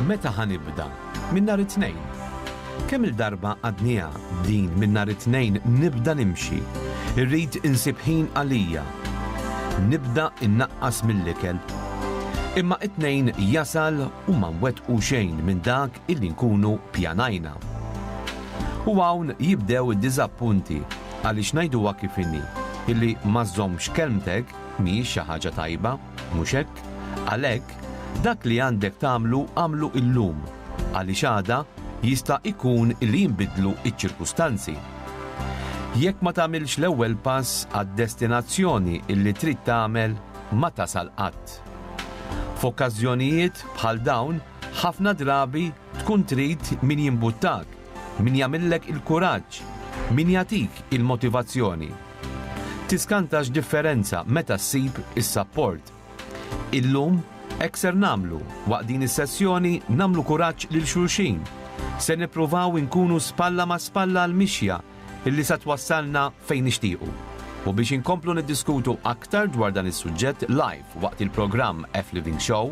Meta ħa nibda? Minn nhar it-Tnejn. Kemm-il darba għadniha din minn nhar it-Tnejn nibda nimxi. Irrid insib ħin għalija. Nibda innaqqas mill-ikel. Imma it-Tnejn jasal u ma nwettqu xejn minn dak illi nkunu pjanajna. U hawn jibdew id-diżappunti għaliex ngħiduha kif inhi, illi ma żżommx kelmtek mhijiex xi ħaġa tajba, mhux hekk? Għalhekk, dak li għandek tagħmlu agħmlu illum, għaliex għada jista' ikun li jinbidlu ċ-ċirkustanzi. Jekk ma tagħmilx l-ewwel pass għad-destinazzjoni illi trid tagħmel, ma tasal qatt. F'okkażjonijiet bħal dawn, Ħafna drabi tkun trid min jimbuttak, min jagħmillek il-kuraġġ, min jagħtik il-motivazzjoni. Tiskanta x'differenza meta ssib is-sapport. Illum hekk ser nagħmlu, waqt din is-sessjoni nagħmlu kuraġġ lil xulxin. Se nippruvaw inkunu spalla ma' spalla għall-mixja li se twassalna fejn nixtiequ. U biex inkomplu niddiskutu aktar dwar dan is-suġġett live waqt il-programm F-Living Show,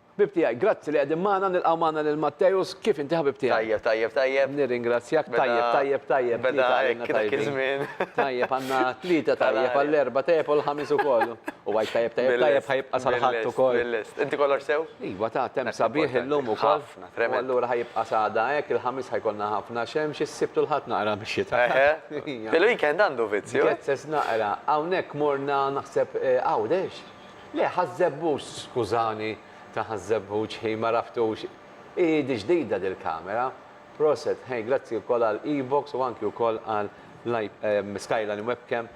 Ħbieb tiegħi, grazzi li qegħdin magħna, nilqgħu magħna lil Matteus, kif inti ħabib tiegħi? Tajjeb, tajjeb, tajjeb. Nirringrazzjak, tajjeb, tajjeb, tajjeb, tlieta għalina tajbin. Tajjeb, għandna tlieta tajjeb, għall-Erbgħa tajjeb u l-Ħamis ukoll. U Għid tajjeb, tajjeb, tajjeb ħa jibqa' sal-Ħadd ukoll. Bil-lest, inti kollox sew? Iva, ta' temp sabiħ illum ukoll. Ħafna, tremenda. U allura ħa jibqa' sagħda hekk, il-Ħamis ħa jkollna ħafna xemx, is-Sibt u l-Ħadd naqra mix-xita. Il-weekend għandu vizzju. Gezzeż naqra, hawnhekk morna naħseb Għawdex? Le, Ħaż-Żebbuġ, skużani, ta' Ħaż-Żebbuġ, hi ma raftux. Hi di ġdida dil-kamera. Proset, hey, grazzi wkoll għal Evox u anki wkoll għal Skyline Webcam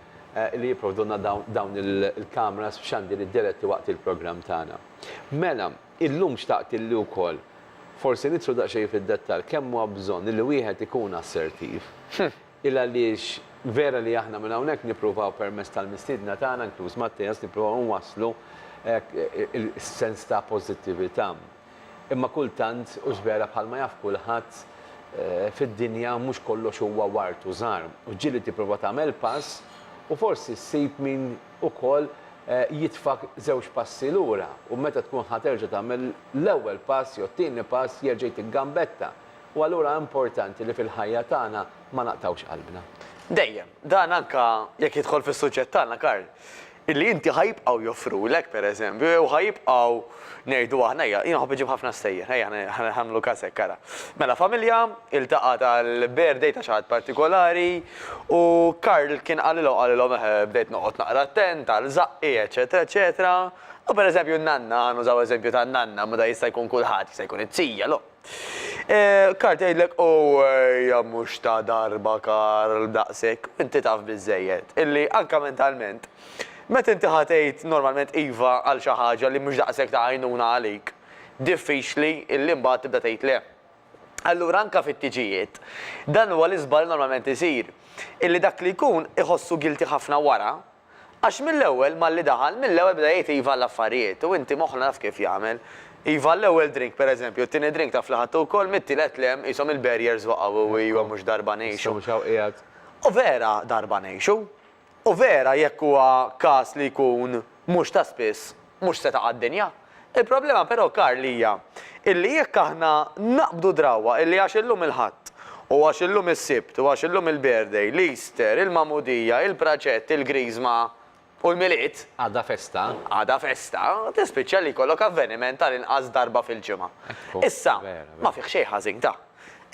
li jipprovdulna dawn il-cameras f'xandiri diretti waqt il-programm tagħna. Mela, illum xtaqt illi wkoll forsi nidħlu daqsxejn fid-dettall kemm huwa bżonn illi wieħed ikun assertiv. Il għaliex vera li aħna minn hawnhekk nippruvaw permezz tal-mistiedna tagħna, inkluż Matteas, nippruvaw inwasslu hekk is-sens ta' pożittività. Imma kultant, hux vera bħalma jaf kulħadd, fid-dinja mhux kollox huwa ward u żahar. U ġieli tipprova tagħmel pass u forsi ssib min ukoll jitfgħek żewġ passi lura u meta tkun ħa terġa' tagħmel l-ewwel pass jew t-tieni pass jerġa' jtik gambetta. U allura importanti li fil-ħajja tagħna ma naqtgħux qalbna. Dejjem. Dan anke jekk jidħol fis-suġġett tagħna, Karl. Illi inti ħa jibqgħu joffrulek, per eżempju, jew ħa jibqgħu, ngħidu aħna, ejja, jien nħobb iġib ħafna stejjer, ejja ħa nagħmlu każ hekk, ara. Mela familja iltaqgħet għall-birthday ta' xi ħadd partikolari u Karl kien qalilhom, qalilhom eħe bdejt noqgħod naqra attent għal żaqqi, eċċetera, eċċetera. U per eżempju n-nanna, ħa nużaw eżempju tan-nanna, ma dan jista' jkun kulħadd, jista' jkun it-tija, l-omm. Karl tgħidlek Owwejja mhux ta' darba Karl daqshekk u inti taf biżżejjed illi anke mentalment meta inti ħa tgħid normalment iva għal xi ħaġa li mhux daqshekk ta' għajnuna għalik, diffiċli illi mbagħad tibda tgħid le. Allura anke fit-tiġijiet dan huwa l-iżball normalment isir illi dak li jkun iħossu guilty ħafna wara Għax mill-ewwel malli daħal, mill-ewwel beda jgħid iva għall-affarijiet u inti moħħna naf kif jagħmel. Iva għall-ewwel drink pereżempju, t-tieni drink taf li ħadtu wkoll, mit-tielet le, qishom il-barriers waqgħu u iva mhux darba ngħixu. U vera darba ngħixu. U vera jekk huwa każ li jkun mhux ta' spiss, Mhux se taqa' d-dinja. Il-problema però, Karl, hija illi jekk aħna naqbdu drawwa illi għax illum il-Ħadd, u għax illum is-Sibt, u għax illum il-birthday, l-Easter, il-Magħmudija, il-Praċett, il-Griżma, u l-Milied. Għada festa. Għada festa, tispiċċa li jkollok avveniment tal-inqas darba fil-ġimgħa. Issa, ma fih xejn ħażin da.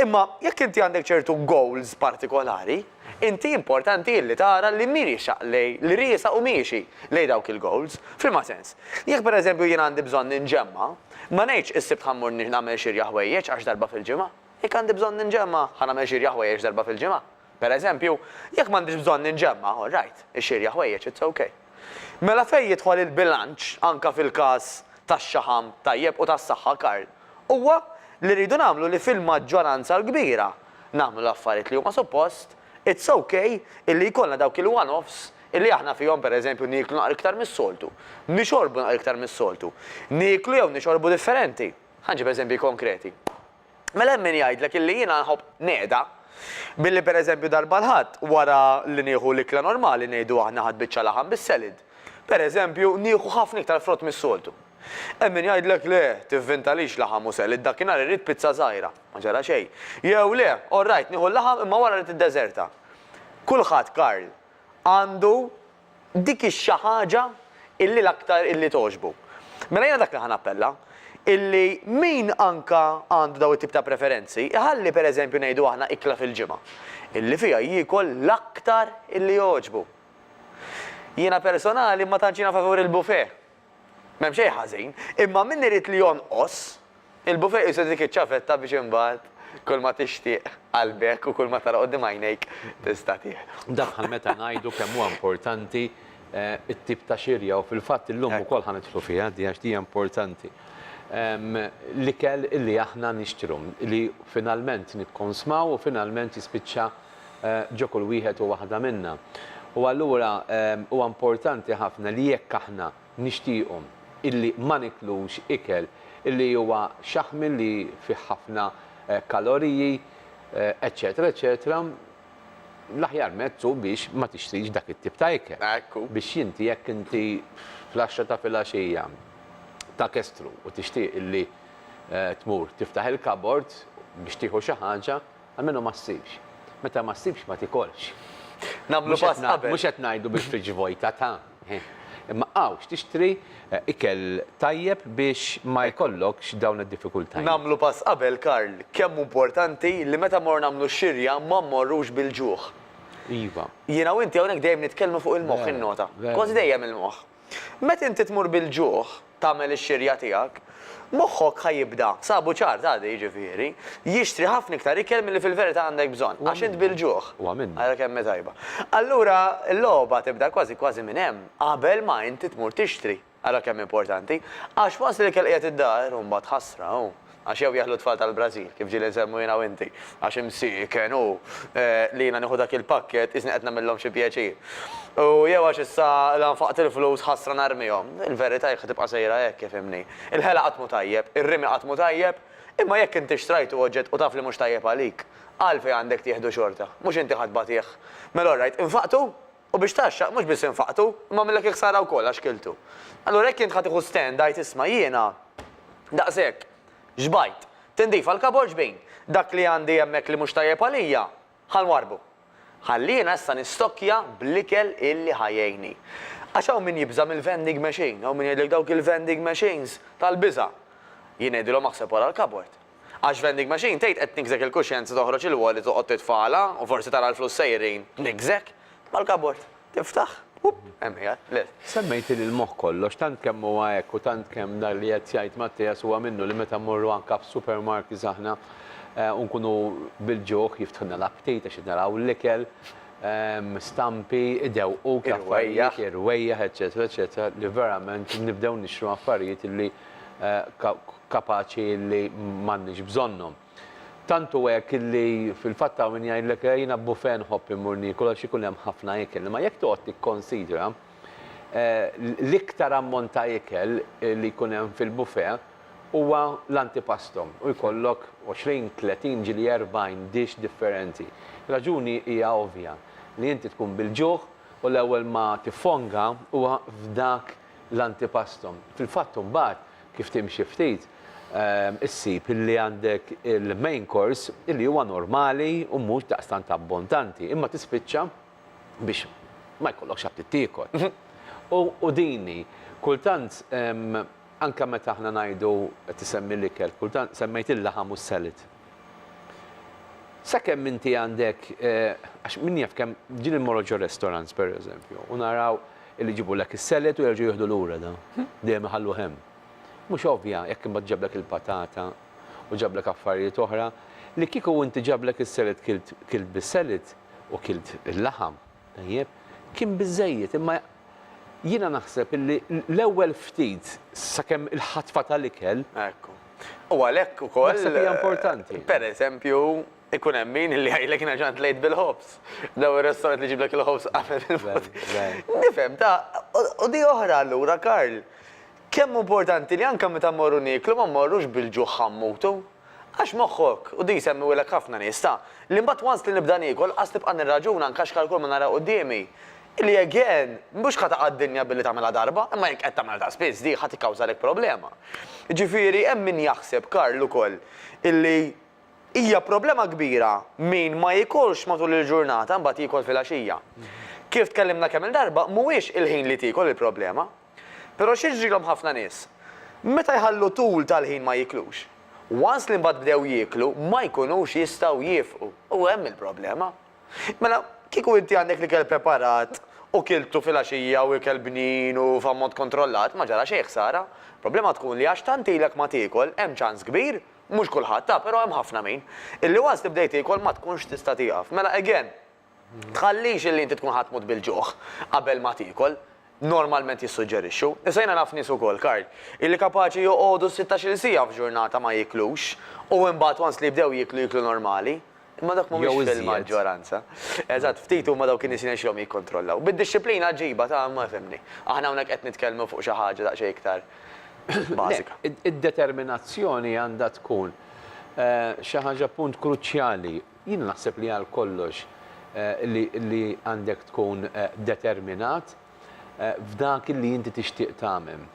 Imma jekk inti għandek ċertu goals partikolari, inti importanti illi tara li miriexaq lej li riesaq u miexi lejn dawk il-goals. F'liema sens? Jekk pereżempju jien għandi bżonn inġemma, ma ngħidx is-Sibt ħa mmur nagħmel xirja ħwejjeġ għax darba fil-ġimgħa. Jekk għandi bżonn inġemma, ħa nagħmel xirja ħwejjeġ darba fil-ġimgħa. Pereżempju, jekk m'għandix bżonn inġemma, all right, ixirja ħwejjeġ, it's ok. Mela fejn jidħol il-bilanċ anke fil-każ tax-xaħam tajjeb u tas-saħħa, Karl? Huwa li rridu nagħmlu li fil-maġġoranza l-kbira nagħmlu l-affarijiet li huma suppost, it's ok illi jkollna dawk il-one-offs illi aħna fihom pereżempju nieklu naqra iktar mis-soltu, nixorbu naqra iktar mis-soltu, nieklu jew nixorbu differenti. Ħa nġib eżempji konkreti. Mela hemm min jgħidlek illi jiena nħobb negħda billi pereżempju darba l-Ħadd wara li nieħu l-ikla normali ngħidu aħna Ħadd biċċa laħam bis-selid, pereżempju nieħu ħafna iktar frott mis-soltu. Hemm min jgħidlek le, tivvintalix laħam u selid, dakinhar irrid pizza żgħira, ma ġara xejn. Jew le, orrajt nieħu l-laħam imma wara rrid id-deżerta. Kulħadd, Karl, għandu Dik hi xi ħaġa illi l-aktar illi togħġbu. Mela jiena dak li ħa nappella, illi min anka għandu dawn it-tip ta' preferenzi, iħalli per eżempju ngħidu aħna ikla fil-ġimgħa, illi fiha jiekol l-aktar illi jogħġbu. Jiena personali ma tantx jiena favur il-buffet. M'hemm xejn ħażin, imma min irid li jonqos, il-buffet juża dik iċ-ċavetta biex imbagħad kulma tixtieq qalbek u kulma tara quddiem għajnejk tista' tieħdu. Daħħal meta ngħidu kemm huwa importanti t-tip ta' xirja u fil-fatt illum ukoll ħa nidħlu fiha di għax di hija importanti. L-ikel li aħna nixtru, li finalment nikkonsmaw u finalment jispiċċa ġo kull wieħed u waħda minna. U allura huwa importanti ħafna li jekk aħna nixtiequ illi ma niklux ikel illi huwa xaħmi illi fih ħafna kaloriji, eċċetera eċċetera, l-aħjar mezz hu biex ma tixtrix dak it-tip ta' ikel. Biex inti jekk inti fl-għaxra ta' filgħaxija ta' kestru u tixtieq illi tmur tiftaħ il-kabord biex tieħu xi ħaġa, Almenu ma ssibx. Meta ma ssibx ma tikolx. Nagħmlu pass qabel. Mhux qed ngħidu bil-fridge vojta ta', ħin. Imma hawn x'tixtri ikel tajjeb biex ma jkollokx dawn id-diffikultajiet. Nagħmlu pass qabel, Karl. Kemm hu importanti li meta mmorru nagħmlu x-xirja ma mmorrux bil-ġuħ. Iva. Jiena u inti hawnhekk dejjem nitkellmu fuq il-moħħ, innota. Kważi dejjem il-moħħ. Meta inti tmur bil-ġuħ tagħmel ix-xirja tiegħek, moħħok ħa jibda, sa buċar ta' għada jiġifieri, jixtri ħafna iktar ikel milli fil-verità għandek bżonn, għax int bil-ġuħ. Ara kemm hi tajba. Allura l-logħba tibda kważi kważi minn hemm, qabel ma inti tmur tixtri. Ara kemm hi importanti. Għax once l-ikel qiegħed id-dar, u mbagħad ħasra, hu. Għax jew jeħlu t-tfal tal-Brażil, kif ġieli nsemmu jiena u inti, għax imsieken hu li jiena nieħu dak il-pakkett qisni qed nagħmillhom xi pjaċir. U jew għax issa la nfaqt il-flus ħasra narmihom. Il-verità jekk ħa tibqa' sejra hekk, ifhimni. Il-ħela qatt mhu tajjeb, ir-rimi qatt mhu tajjeb, imma jekk inti xtrajtu oġġett u taf li mhux tajjeb għalik, għalfejn għandek tieħdu xorta? Mhux inti ħa tbatieh? Mela orrajt, infaqtu? U biex tgħaxxaq mhux biss infaqtu, imma għamillek il-ħsara wkoll għax kiltu. Allura jekk int ħa tieħu stand għid isma' jiena daqshekk xbajt, tindif għall-kabod xbin, dak li għandi hemmhekk li mhux tajjeb għalija ħa nwarrbu. Ħalli jiena issa nistokkja bl-ikel illi ħa jgħinni. Għax hawn min jibża' mill-vending machine, hawn min jgħidlek dawk il-vending machines tal-biża'. Jien ngħidilhom aħseb wara l-kabod. Għax vending machine tgħid qed tniggżek il-kuxjenza toħroġ il-wallet toqgħod titfagħalha u forsi tara l-flus sejrin, tniggżek. Mal-kabord, tiftaħ, up, hemm qiegħed, lil. Semmejtili l-moħħ kollox, tant kemm huwa hekk u tant kemm dak li qed jgħid Mattias huwa minnu li meta mmorru anke f'supermarkets aħna u nkunu bil-ġuħ jiftħulna l-aptit għax qed naraw l-ikel, stampi, idewquk l-affarijiet, irwejjaħ, eċċetera, eċċetera, li verament nibdew nixtru affarijiet li kapaċi li m'għandniex bżonnhom. Tant hu hekk li fil-fatt hawn min jgħidlek le jiena bufè nħobb immur niekol għax ikun hemm ħafna ikel. Imma jekk toqgħod tikkonsidra l-iktar ammont ta' ikel li jkun hemm fil-bufè huwa l-antipasto u jkollok għoxrin, tletin ġieli erbgħin dish differenti. Ir-raġuni hija ovvja li inti tkun bil-ġuħ u l-ewwel ma tiffonga huwa f'dak l-antipastum. Fil-fatt imbagħad, kif timxi ftit, issib li għandek il-main course li huwa normali u mhux daqstant abbondanti, imma tispiċċa biex ma jkollokx aptit tiekol. U din hi. Kultant anke meta aħna ngħidu, qed isemmi l-ikel, kultant semmejt il-laħam u s-salad. Sakemm inti għandek, għax min jaf kemm, ġieli mmorru xi restaurants pereżempju u naraw illi jġibulek is-salad u jerġgħu jieħdu lura dan, dejjem iħalluh hemm. Mhux ovvja jekk imbagħad ġablek il-patata u ġablek affarijiet oħra li kieku inti ġablek is-salad kilt kilt bis-salad u kilt il-laħam, tajjeb, kien biżżejjed imma Jiena naħseb illi l-ewwel ftit sakemm il-ħatfa tal-ikel. Ekku. U għalhekk ukoll. Naħseb hija importanti. Pereżempju, ikun hemm min illi jgħidlek jiena ġant lejt bil-ħobż. Daw ir-restaurant li jġiblek il-ħobż qabel il-fut. Nifhem, ta. U di oħra allura, Karl, kemm hu importanti li anke meta mmorru nieklu ma mmorrux bil-ġuħ ħammutu. Għax moħħok, u din jsemmiuhilek ħafna nies, ta' li mbagħad once li nibda niekol qas nibqa' nirraġuna, nkaxkar kull ma nara quddiemi. Li again, mhux ħa taqa' d-dinja billi tagħmilha darba, imma jekk qed tagħmilha ta' spiss dik ħa tikkawżalek problema. Jiġifieri hemm min jaħseb, Karl ukoll, illi hija problema kbira min ma jiekolx matul il-ġurnata imbagħad jiekol filgħaxija. Kif tkellimna kemm-il darba, mhuwiex il-ħin li tiekol il-problema. Pero x'jiġrilhom ħafna nies? Meta jħallu tul tal-ħin ma jieklux. Once li mbagħad bdew jieklu ma jkunux jistgħu jiefqu u hemm il-problema. Mela, kieku inti għandek l-ikel preparat u kiltu filgħaxija u ikel bnin u f'ammont kontrollat ma ġara xejn ħsara. Problema tkun li għax tant ilek ma tiekol hemm ċans kbir, mhux kulħadd, ah, pero hemm ħafna min, illi once li bdejt tiekol ma tkunx tista' tieqaf. Mela again, Tħallix li inti tkun ħa tmut bil-ġuħ qabel ma tiekol, normalment jissuġġerixxu. Issa jiena naf nies ukoll, Karl, illi kapaċi joqogħdu s-sittax-il siegħa f'ġurnata ma jieklux u imbagħad once li jibdew jieklu, jieklu normali. Imma dawk mhumiex fil-maġġoranza. Eżatt, ftit huma dawk in-nies li jirnexxilhom jikkontrollaw. Bid-dixxiplina aġiba ta' ma fhimni. Aħna hawnhekk qed nitkellmu fuq xi ħaġa daqsxejn iktar bażika. Le, id-determinazzjoni għandha tkun xi ħaġa punt kruċjali. Jien naħseb li għal kollox li għandek tkun determinat f'dak li inti tixtieq tagħmel.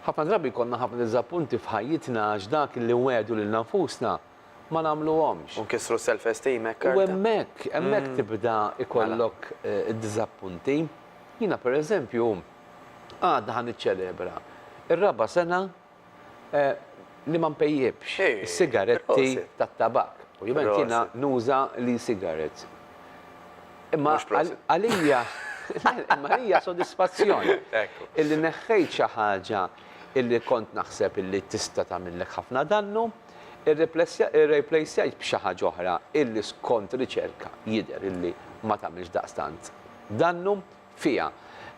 Ħafna drabi jkollna ħafna diżappunti f'ħajjitna għax dak li nwegħdu lilna nfusna ma nagħmluhomx. U nkissru s-self esteem hekk arda. U hemmhekk, hemmhekk tibda jkollok id-diżappunti. Jiena pereżempju għada ħa niċċelebra r-raba' sena li ma npejjipx is-sigaretti tat-tabakk. Ovvjament jiena nuża l-e-cigarettes. Imma għalija imma għalija sodisfazzjon illi neħħejt xi ħaġa illi kont naħseb illi tista' tagħmillek ħafna dannu, irreplejsjajt b'xi ħaġa oħra illi skont riċerka jidher illi ma tagħmilx daqstant dannu. fiha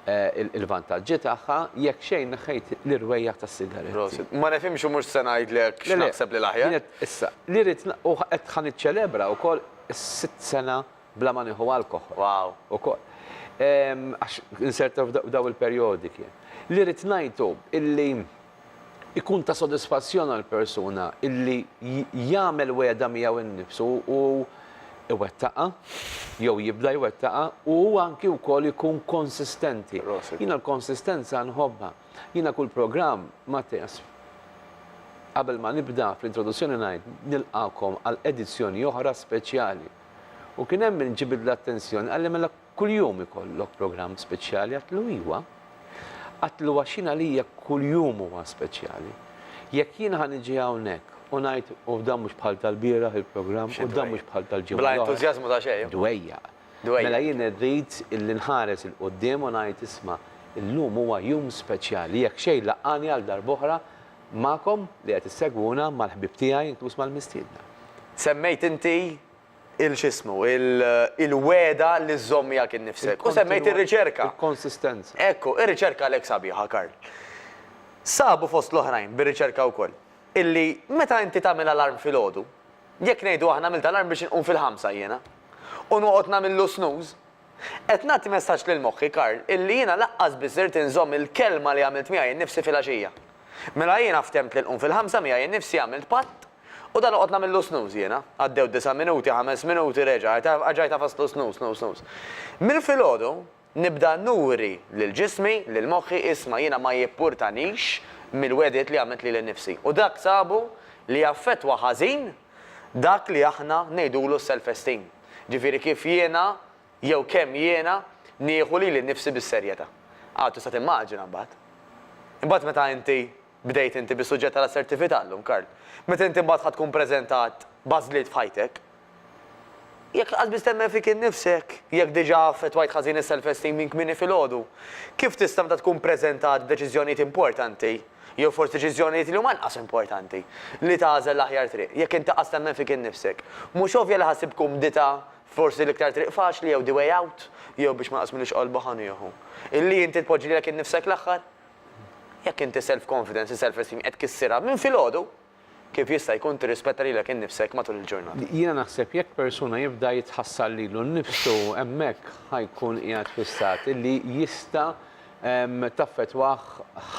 l-vantaġġi tagħha, jekk xejn neħħejt l-irwejjaħ tas-sigaretti. Prosit. Ma nifhimx u mhux se ngħidlek x'naħseb li l-aħjar. Le le, kienet issa, li rrid u qed ħa niċċelebra wkoll is-sitt sena bla ma nieħu alkoħol. Wow. Ukoll. Għax insert f'dawn il-perjodi kien. Li rrid ngħid hu illi Ikun ta' sodisfazzjon għall-persuna li jagħmel wegħda miegħu nnifsu u jwettaqha, jew jibda jwettaqha, u hu anki wkoll ikun konsistenti. Jiena l-konsistenza nħobbha. Jiena kull programm, Matthias, qabel ma nibda fl-introduzzjoni ngħid nilqagħkom għal edizzjoni oħra speċjali. U kien hemm min ġibidli l-attenzjoni, qalli mela Kuljum ikollok programm speċjali għatlu iwa. Għatlu għax jien għalija kuljum huwa speċjali. Jekk jien ħa niġi hawnhekk u ngħid u dan mhux bħal tal-bieraħ il-programm u dan mhux bħal tal-ġimgħa l-oħra. Bla entużjażmu ta' xejn. Dwejjaq. Mela jien irrid illi nħares 'il quddiem u ngħid isma' illum huwa jum speċjali jekk xejn laqqagħni għal darb'oħra magħkom li qed issegwuna mal-ħbieb tiegħi inkluż mal-mistiedna. Semmejt inti il x'ismu, il-wegħda li żżomm miegħek innifsek. U semmejt ir-riċerka. Il-konsistenza. Ekku, ir-riċerka għalhekk sabiħa, Karl. Sabu fost l-oħrajn, bir-riċerka wkoll, illi meta inti tagħmel alarm filgħodu, jekk ngħidu aħna għamilt alarm biex inqum fil-ħamsa jiena, u noqgħod nagħmillu snooze, Qed nagħti messaġġ lil moħħi, Karl, illi jiena laqqas biss ridt inżomm il-kelma li għamilt miegħi nnifsi filgħaxija. Mela jiena ftehmt li nqum fil-ħamsa miegħi nnifsi għamilt patt u dan noqgħod nagħmillu snooze jiena. Għaddew disa' minuti, ħames minuti, reġa' għajtajt għafaslu snooze, snooze, snooze. Mill-filgħodu nibda nuri lil ġismi, lil moħħi, isma' jiena ma jippurtanix mill-wegħdiet li għamilt lili nnifsi. U dak sabu li jaffettwa ħażin Dak li aħna ngħidulu s-self esteem. Ġifieri kif jiena jew kemm jiena nieħu lili nnifsi bis-serjetà. Aw tista' timmaġina mbagħad. Imbagħad meta inti, bdejt inti bis-suġġett tal-assertività llum Karl, meta inti mbagħad ħa tkun preżentat b'għażliet f'ħajtek, jekk lanqas biss temmen fik innifsek, jekk diġà affettwajt ħażin is-self esteem minn kmieni filgħodu, kif tista' meta tkun preżentat b'deċiżjonijiet importanti, Jew forsi deċiżjonijiet li huma inqas importanti, li tagħżel l-aħjar triq, jekk int taqqas temmen fik innifsek. Mhux ovvja li ħa ssib kumdità f'forsi l-iktar triq faċli jew the way out, jew biex ma jqasmilux qalbu ħa nieħu. Illi inti tpoġġi lilek innifsek l-aħħar? Jekk inti self-confidence, is-self-esteem qed tkissirha minn filgħodu, Kif jista' jkun tirrispetta lilek innifsek matul il-ġurnata? Jiena naħseb jekk persuna jibda jitħassar lilu nnifsu hemmhekk ħa jkun qiegħed fi stat li jista' taffettwah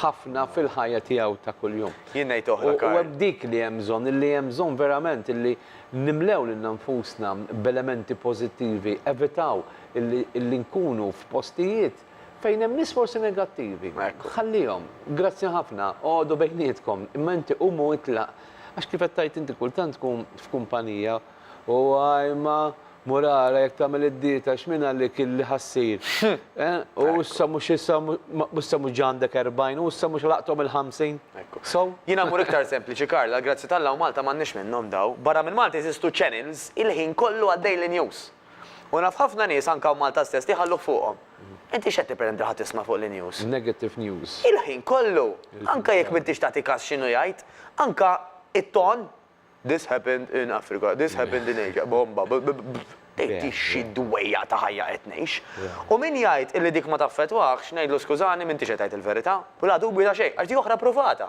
ħafna fil-ħajja tiegħu ta' kuljum. Jien ngħid oħra, Karl. U hemm dik li hemm bżonn, illi hemm bżonn verament illi nimlew lilna nfusna b'elementi pożittivi, evitaw illi nkunu f'postijiet Fejn hemm nies forsi negattivi, ħallihom. Grazzi ħafna, oqogħdu bejnietkom, imma inti qum u itlaq. Għax kif qed tgħid inti kultant tkun f'kumpanija u ajma mur ara jekk tagħmel id-dieta x'min għalik illi ħa ssir. U issa mhux issa u issa mhux ġa għandek erbgħin u issa mhux ħlaqthom il-ħamsin. So? Jiena mmur iktar sempliċi Karl, għall-grazzja t'Alla u Malta m'għandniex minnhom daw. Barra minn Malta jeżistu channels il-ħin kollu għaddej l-news. U naf ħafna nies anke hawn Malta stess li jħalluh fuqhom. Inti x'qed tippreten li ħadd jisma' fuq l-news? Negative news. Il-ħin kollu. Anke jekk m'intix tagħti kas x'inhu jgħid, anke it-ton, This happened in Africa, this happened in Asia, bomba, b, b, b, tgħid xi dwejjaq ta' ħajja qed ngħix. U min jgħid illi dik ma taffettwahx, ngħidlu skużani m'intix qed tgħid il-verità. U l-għadu mhux ta' xejn, għax dik oħra ppruvata.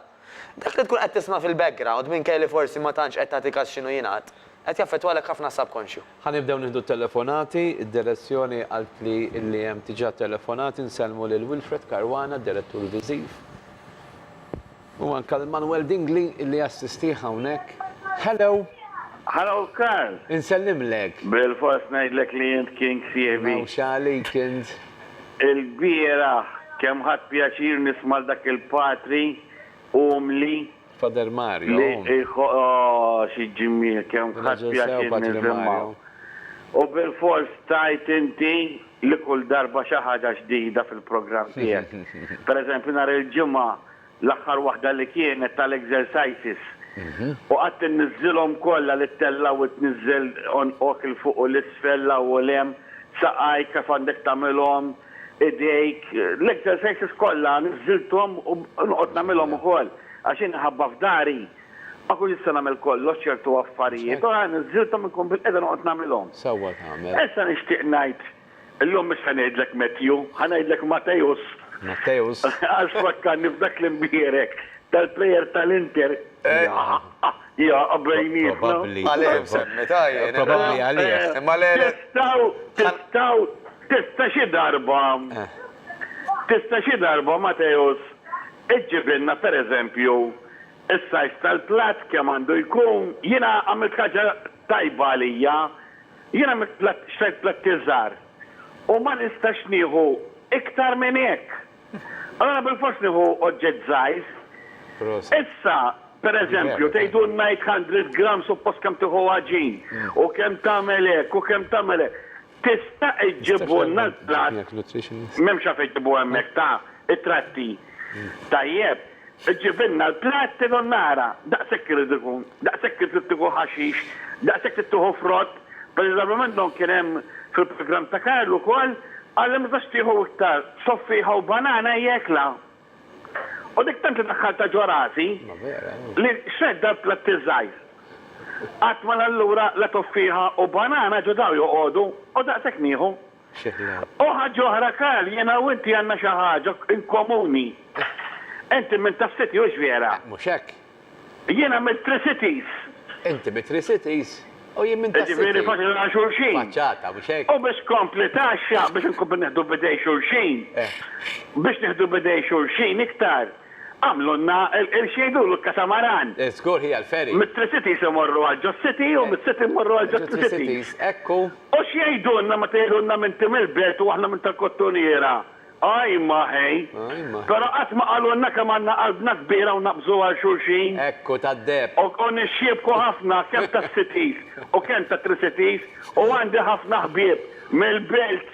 Dak li tkun qed tisma' fil-background, minkejja li forsi ma tantx qed tagħti kas x'inhu jingħad, qed jaffettwalek ħafna s-subkonxju. Ħa nibdew nieħdu t-telefonati, id-direzzjoni qaltli li hemm diġà telefonati, nsellmu lil Wilfred Caruana, d-Direttur Viżiv, u anke lil Manuel Dingli li jassistih hawnhekk. Hello! Hello Karl! Insellimlek! Bilfors ngħidlek li int king sieħbi! Mhux għalik int! Ilbieraħ kemm ħadt pjaċir nisma' 'l dak il-patri umli. Pader Mario. Li oh xi ġmiel kemm ħadt pjaċir nisimgħu. U bilfors tgħid inti li kull darba xi ħaġa ġdida fil-programm tiegħek. Pereżempju nhar il-Ġimgħa L-aħħar waħda li kienet tal-exercises u qgħadt inniżżilhom kollha li ttellaw u tniżżel għonqok 'il fuq u 'l isfel, 'l hawn u 'l hemm, saqajk kif għandek tagħmilhom, idejk, l-exercises kollha niżżilthom u noqgħod nagħmilhom ukoll għax jien minħabba f'dari ma kontx nista' nagħmel kollox ċertu affarijiet u niżżilthom inkun bilqiegħda noqgħod nagħmilhom. Sewwa tagħmel. Issa nixtieq ngħid Illum mhux se ngħidlek Matthew, ħa ngħidlek Matthäus. Matthäus. Għax fakkarni f'dak l-imbierek tal-player tal-Inter. Jaqaw bejnietna. Probabbli. Għalih semmita jien. Probabbli għalih. Imma le. Tistgħu, tistgħu, tista' xi darba, tista' xi darba Matthäus iġġibilna per eżempju s-size tal-platt kemm għandu jkun? Jiena għamilt ħaġa tajba għalija Jien għamilt platt, xtrajt plattiel żgħar u ma nistax nieħu iktar minn hekk. Allura bilfors nieħu oġġett żgħir. Issa, per eżempju, tgħidulna 800 gramm suppost kemm tieħu għaġin u kemm tagħmel hekk u kemm tagħmel hekk. Tista' iġġibulna l-platt, m'hemmx għalfejn iġġibu hemmhekk, ta' it-tratti. Tajjeb. Iġġibilna l-platt il u nara, daqshekk irid ikun, daqshekk irid tieħu ħaxix, daqshekk irid tieħu frott, preżavi minnhom kien hemm fil-programm ta' Karl ukoll, qalli ma tistax tieħu iktar, soffieħa u banana hija ekla. U dik tant li daħħaltha ġo rasi li xredt dal-platt iż-żgħir. Qatt ma l-allura la toffieħa u banana ġo daw joqogħdu u daqshekk nieħu. Xi ħla. U ħaġ'oħra Karl, jiena u inti għandna xi ħaġa in komuni. Inti minn tas-City, hux vera? Mhux hekk? Jiena mit-Tri-Cities. Inti mit-Tri-Cities u jien minn tas-City. Jiġifieri faċli nagħlqu xulxin. Faċċata, mhux hekk? U biex tkompli tgħaxxaq biex inkomplu nieħdu b'idej xulxin. Biex nieħdu b'idej xulxin iktar. Għamlulna il-qirx jgħidulu l-katamaran. Żgur hija l-ferry. Mit-Tri Cities imorru għal Ġo City u miċ-City mmorru għal Ġo Tri Cities. Ekku. U x'jgħidulna meta jgħidulna m'inti mill-Belt u aħna minn tal-Kottuniera? Ajma, ħej! Però qatt ma qalulna kemm għandna qalbna kbira u naqbżu għal xulxin. Ekku, tad-deheb. U nixxiebku ħafna kemm tas-Cities u kemm tat-Tri Cities u għandi ħafna ħbieb mill-Belt.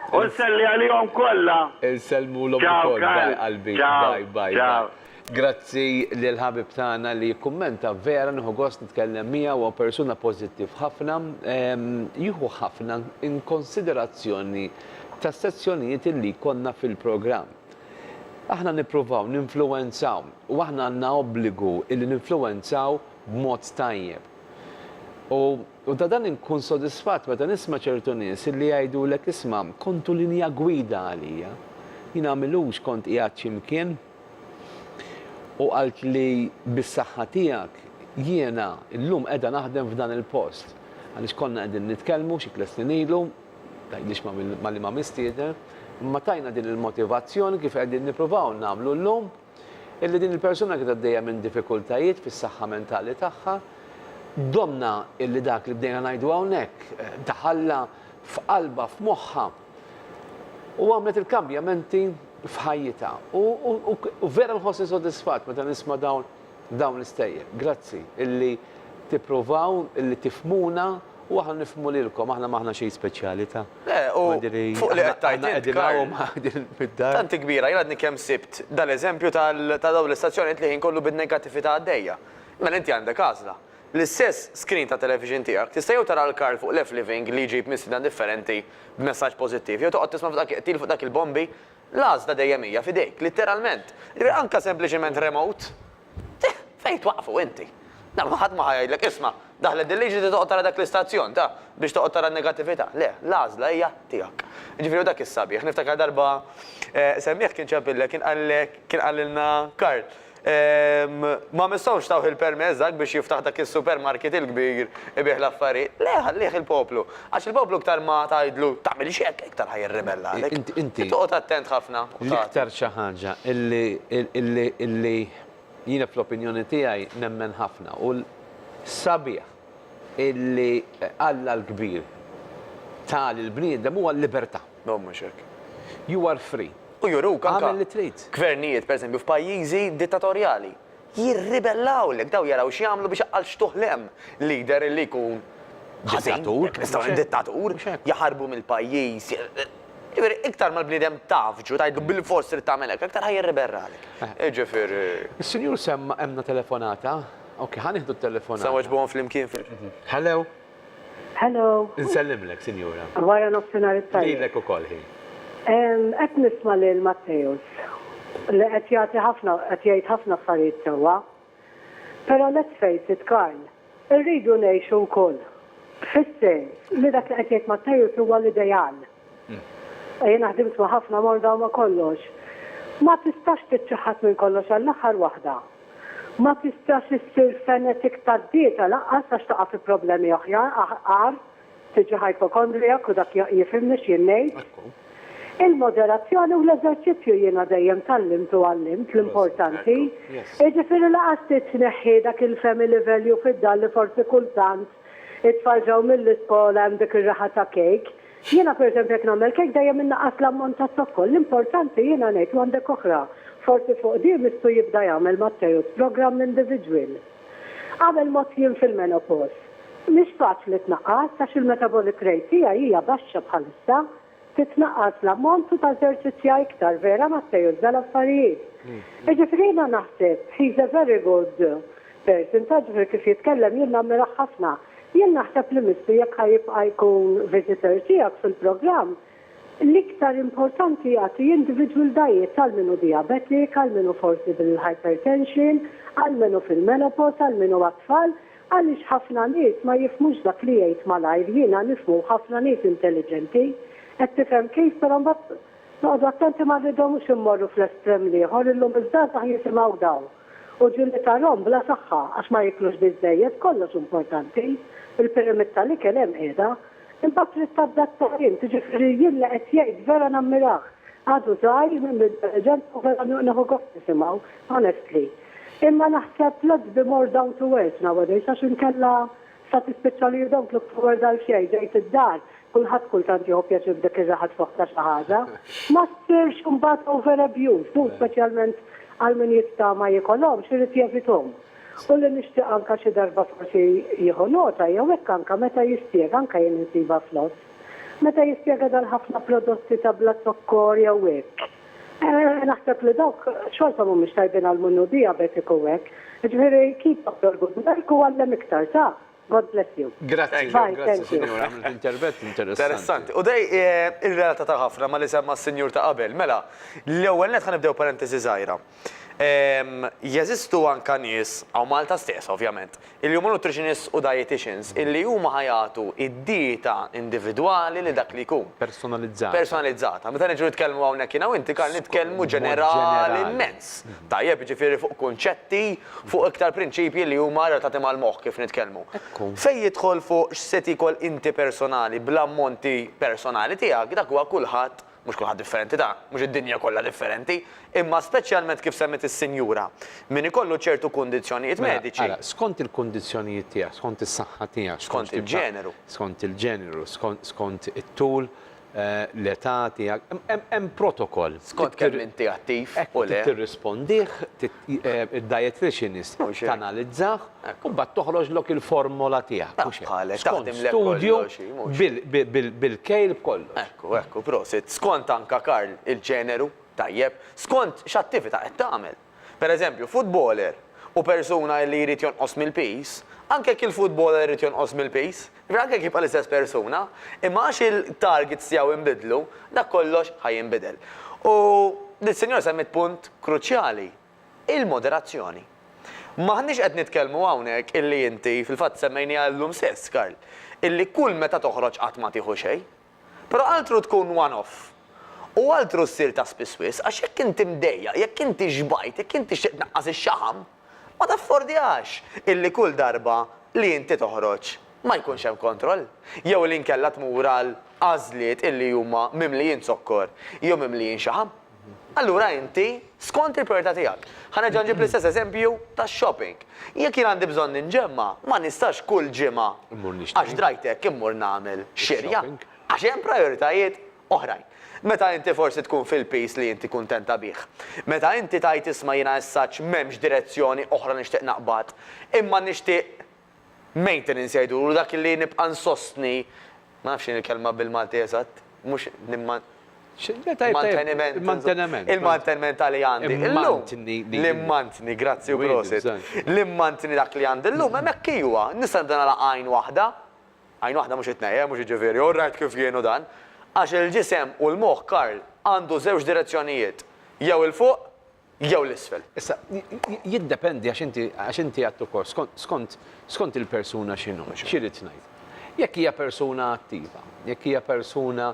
U nselli għalihom kollha. Insellmulhom ukoll bye qalbi bye bye bye. Grazzi lil ħabib tagħna li jikkummenta vera nieħu gost nitkellem miegħu huwa persuna pożittiv ħafna jieħu ħafna in konsiderazzjoni tas-sezzjonijiet li jkollna fil-programm. Aħna nippruvaw ninfluwenzaw u aħna għandna obbligu illi ninfluwenzaw b'mod tajjeb. U U ta' dan inkun sodisfatt meta nisma' ċertu nies li jgħidulek, isma', kontu linja gwida għalija. Jien għamilux kont qiegħed xi mkien u qaltli bis-saħħa tiegħek jiena llum qiegħda naħdem f'dan il-post. Għaliex konna qegħdin nitkellmu xi tliet snin ilu, tgħidlix ma' liema mistieden, imma tajna din il-motivazzjoni kif qegħdin nippruvaw nagħmlu llum. illi din il-persuna kienet għaddejja minn diffikultajiet fis-saħħa mentali tagħha, domna illi dak li bdejna ngħidu hawnhekk daħallha f'qalbha, f'moħħha u għamlet il-kambjamenti f'ħajjitha. U vera nħossni sodisfatt meta nisma' dawn dawn l-istejjer. Grazzi illi tippruvaw illi tifmuna U aħna nifhmu lilkom, aħna m'aħna xejn speċjali ta'. Le, u fuq li qed tgħid int, Karl. Aħna qegħdin hawn qegħdin mid-dar. Tant hi kbira, jien għadni kemm sibt dal-eżempju ta' dawn l-istazzjonijiet li l-ħin kollu bin-negattività għaddejja. Mela inti għandek għażla. L-istess screen tat-television tiegħek tista' jew tara 'l Karl fuq left living li jġib mistiedna differenti b'messaġġ pożittiv jew toqgħod tisma' f'dak iqtil fuq dak il-bombi L-għażla dejjem hija f'idejk, litteralment. Anke sempliċement remote. Tih, fejn twaqqfu inti? Dan ħadd ma ħa jgħidlek, isma', daħlet din liġi trid toqgħod tara dak l-istazzjon ta' biex toqgħod tara n-negattività. Le, l-għażla hija tiegħek. Jiġifieri hu dak is-sabiħ. Niftakar darba semmieh kien ċempillek, kien qal, kien qalilna Karl, Ma mistgħux tawh il-permess dak biex jiftaħ dak is-supermarket il-kbir ibigħ l-affarijiet. Le, ħallih il-poplu. Għax il-poplu iktar ma tgħidlu, tagħmilx hekk, iktar ħa jirribella għalik. Inti toqgħod attent ħafna u tagħti. L-iktar xi ħaġa li jiena fl-opinjoni tiegħi nemmen ħafna u sabiħ illi Alla l-kbir ta lill-bniedem huwa l-libertà. No mhux hekk. You are free. U juruk anke. Agħmel li trid. Gvernijiet, pereżempju, f'pajjiżi dittatorjali. Jirribellawlek. Dawn jaraw x'jagħmlu biex għal xtuħ l-hemm leader li jkun ħażin. Dittatur. Mhux dittatur. Mhux hekk. Jaħarbu mill-pajjiż. Jiġifieri iktar ma l-bniedem tgħaffġu, tgħidlu bilfors trid tagħmel hekk, aktar ħa jirribellagħlek. Jiġifieri. Is-Sinjur semma għandna telefonata. Ok, ħa nieħdu t-telefonata. Se nweġbuhom flimkien. Hello? Hello. Nsellimlek, Sinjura. Wara nofsinhar it-tajjeb. Lilek ukoll, ħi. Qed nisma' lil Matteus li qed jagħti ħafna qed jgħid ħafna affarijiet sewwa. Però let's face it, Karl, irridu ngħixu wkoll fis-sens li dak li qed jgħid Matteus huwa l-ideal. Jiena ħdimt ma' ħafna morda u ma' kollox. Ma tistax tiċċaħħad minn kollox għall-aħħar waħda. Ma tistax issir fanatic tad-dieta lanqas għax taqa' fi problemi oħjar aħqar, tiġi hypochondriac u dak jifhimni x'jien ngħid. Il-moderazzjoni u l-eżerċizzju jiena dejjem tgħallimt u għallimt l-importanti. Jiġifieri lanqas trid tneħħi dak il-family value fid-dar li forsi kultant it-tfal ġew mill-iskola hemm dik ir-riħa ta' cake. Jiena pereżempju jekk nagħmel kejk dejjem innaqqas l-ammont ta' zokkor. L-importanti jiena ngħid u għandek oħra. Forsi fuq di Mistu jibda jagħmel Matteus programm individwil. Qabel mgħodt jien fil-menopos. Mhix faċli tnaqqas għax il-metabolic rate tiegħi hija baxxa bħalissa. Titnaqqas l-ammont u tażerċizzja iktar, vera Matteus, dal-affarijiet. Jiġifieri jiena naħseb he's a very good Person, Ta' ġbir kif jitkellem jien nammirah ħafna. Jien naħseb li Misty jekk ħa jibqa' jkun visitor tiegħek fil-programm, l-iktar importanti jagħti individwildajiet għal min hu diabetic, għal min hu forsi bil-hypertension, għal min hu fil-menopause, għal min hu għat-tfal, għaliex ħafna nies ma jifhmux dak li jgħid malajr, jiena nifhmu u ħafna nies intelliġenti, qed tifhem kif, però mbagħad noqogħdu attenti ma rridhomx immorru fl-estrem l-ieħor, illum iż-żgħażagħ jisimgħu dawn. U ġieli tarhom bla saħħa għax ma jiklux biżżejjed, kollox importanti. Il-pyramid tal-ikel hemm qiegħda. Imbagħad trid tadatta int, jiġifieri jien li qed jgħid vera nammirah. Għadu żgħir, mimli intelliġenza u vera nieħu gost nisimgħu, honestly. Imma naħseb let's be more down to earth nowadays għax inkella Sa tispiċċa li you don't look forward għal xejn, ġejt id-dar, kulħadd kultant jieħu pjaċir f'dik ir-raħa tfogħ ta' xi ħaġa. Ma ssirx imbagħad over abused, u speċjalment għal min jittama jikolhomx, irid jevithom. U li nixtieq anke xi darba forsi jieħu nota jew hekk anke meta jispjega, anke jien insibha flott, meta jispjega dal-ħafna prodotti ta' bla zokkor jew hekk, Naħseb li dawk xorta mhumiex tajbin għall-munnu diabetiku u hekk. Jiġifieri keep up your good work u għallem iktar, sa? God bless you. Grazzi, grazzi Sinjura, għamilt intervett interessanti. Interessanti. U dei irrelatata ħafna ma' li semma s-Sinjur ta' qabel. Mela, l-ewwel nett ħa nibdew parentesi żgħira. Jeżistu anka nies, hawn Malta stess ovvjament, Il-Human Nutritionists u Dietitians, illi huma ħa jagħtu d-dieta individwali li dak li jkun. Personalizzata. Personalizzata. Meta niġu nitkellmu hawnhekk jiena u inti, Karl, nitkellmu ġenerali mmens. Tajjeb, jiġifieri fuq kunċetti, fuq iktar prinċipji li huma relatati mal-moħħ kif nitkellmu. Fejn jidħol fuq x'se tiekol inti personali bl-ammonti personali tiegħek, dak huwa kulħadd mhux kulħadd differenti ta' mhux id-dinja kollha differenti, imma speċjalment kif semmiet is-sinjura, min ikollu ċertu kundizzjonijiet mediċi. Mela, ara, skont il-kundizzjonijiet tiegħek, skont is-saħħa tiegħek, skont tip ta'. Skont il-ġeneru. Skont il-ġeneru, skont it-tul, l-età tiegħek, hemm protokoll. Skont kemm inti attiv u le. Tirrispondih, id-dietitianist tanalizzah u mbagħad toħroġlok il-formola tiegħek. Mhux hekk. Skont studju bil-kejl b'kollox. Ekku, ekku, prosit. Skont anke, Karl, il-ġeneru, tajjeb, skont x'attività qed tagħmel. Per eżempju, futboler u persuna li jrid jonqos mill-piż, anke jekk il-futboler irid jonqos mill-piż, Ragek jibqa' l-istess persuna, imma għax il-targets tiegħu inbidlu, dak kollox ħa jinbidel. U l-Sinjora semmiet punt kruċjali, il-moderazzjoni. M'aħniex qed nitkellmu hawnhekk illi inti, fil-fatt semmejniha llum stess, Karl, illi kull meta toħroġ qatt ma tieħu xejn. Però altru tkun one off. U altru ssir ta' spiss wisq, għax jekk inti mdejjaq, jekk inti xbajt, jekk int tixtieq tnaqqas ix-xaħam, Ma taffordjax illi kull darba li inti toħroġ ma jkunx hemm kontroll, jew li inkella tmur għal għażliet illi huma mimlijin zokkor jew mimlijin xaħam. Allura inti skont il-prijorità tiegħek. Ħa nerġa' nġib l-istess eżempju tax-shopping. Jekk jien għandi bżonn inġemma, ma nistax kull ġimgħa għax drajt hekk immur nagħmel xirja, għax hemm prijoritajiet oħrajn. Meta inti forsi tkun fil-piż li inti kuntenta bih. Meta inti tgħid isma' jiena essaċ m'hemmx direzzjoni oħra nixtieq naqbad. Imma nixtieq maintenance jgħidulu dak li nibqa' nsostni, ma nafx x'inhi l-kelma bil-Malti eżatt, mhux nimman. Manteniment. Il-manteniment. Il-manteniment ta' li għandi. L-mantni. L-mantni, grazzi u prosit. L-mantni dak li għandi llum hemmhekk iwa, nista' nibda nagħlaq għajn waħda. Għajn waħda mhux itnejn, mhux jiġifieri, hu r-rajd kif jien u dan. Għax il-ġisem u l-moħħ, Karl, għandu żewġ direzzjonijiet, jew 'il fuq, jew 'l isfel. Issa, jiddependi għax inti, għax inti għedt ukoll, skont, skont, skont il-persuna x'inhu, x'irrid ngħid. Jekk hija persuna attiva, jekk hija persuna,